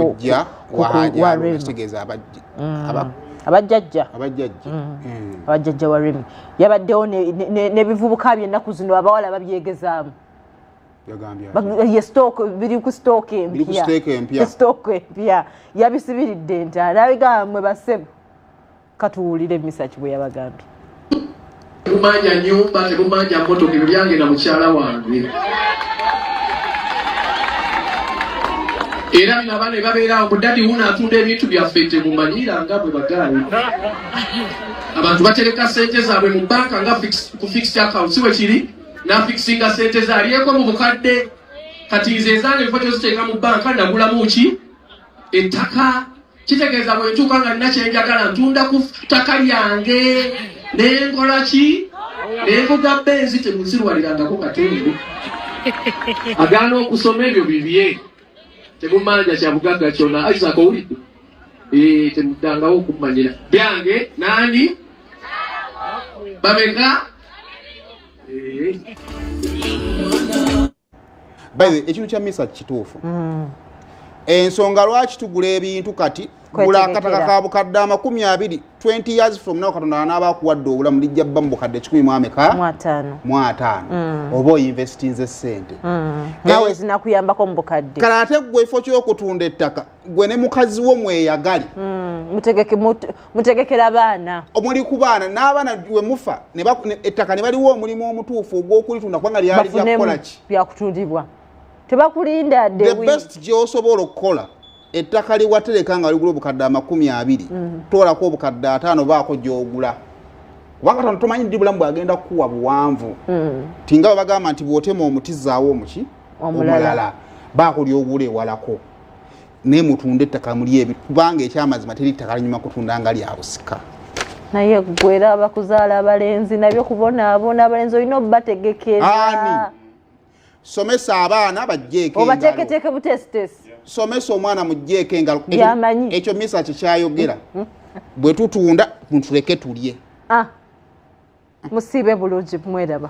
kujja wahajategeeza abajja mm. abajjajja abajjajja mm. mm. abajjajja wa remi yabaddewo nebivubuka byennaku zino abawala babyegezaamu ye stock biri ku stock empya stock empya yabisibiridde nti alabigamba mwe basebo katuwulire misaki bwe yabagambye tebumanja nyumba tebumanja motoka ebyo byange na mukyala wange era bino abaana ebabeerawo mudadi wuno atunda ebintu byaffe tebumanyira nga bwe bagaayi abantu batereka sente zaabwe mu banka nga ku fixed account si wekiri nafikisinga sente ze alyeko mu bukadde kati nze ezange nfa toziteeka mu banka nagulamu ki ettaka kitegeeza bwe ntuuka nga nina kye njagala ntunda ku ttaka lyange ne nkola ki ne nvuga benzi temunzirwalirangako katembe agaana okusoma ebyo bibye temumanja kya bugagga kyona isaac owulidde eh, temuddangawo okumanyira byange nani bameka eh. by the ekintu kya misa kituufu mm. ensonga lwaki tugula ebintu kati gula akataka ka bukadde amakumi abiri 20 years from now katonda anaaba akuwadde obulamu lijja bba mu bukadde kikumi mu ameka mu ataano mm. oba oyinvestinze ssente mm. nawe zinakuyambako mu bukadde kale ate ggwe ekifo ky'okutunda ettaka gwe ne mukazi wo mweyagale mm, mutegekera baana omuli ku baana n'abaana we mufa ettaka ne baliwo omulimu omutuufu ogw'okulitunda kubanga lyali lyakukola ki byakutundibwa tebakulinda the best gyosobola okukola ettaka liwatereka nga ligula obukadde amakumi abiri mm. toolako obukadde ataano baako gyogula kubanga tono tomanyi ndi bulamu bwagenda kukuwa buwanvu mm. tinga bwe bagamba nti bwotema omuti zaawo omuki omulala baakulya ogula ewalako naye mutunda ettaka muli ebi kubanga ekyamazima teri ttaka linyuma kutunda nga lyabusika naye gwera abakuzaala abalenzi nabyo kubonaabona abalenzi olina obubategekera somesa abaana bajjeekoobateeketeeke butesitesi somesa omwana mujjeeko engalo yamanyi ekyo misa kikyayogera mm, mm. bwe tutunda mutuleke tulye ah, musiibe bulungi mweraba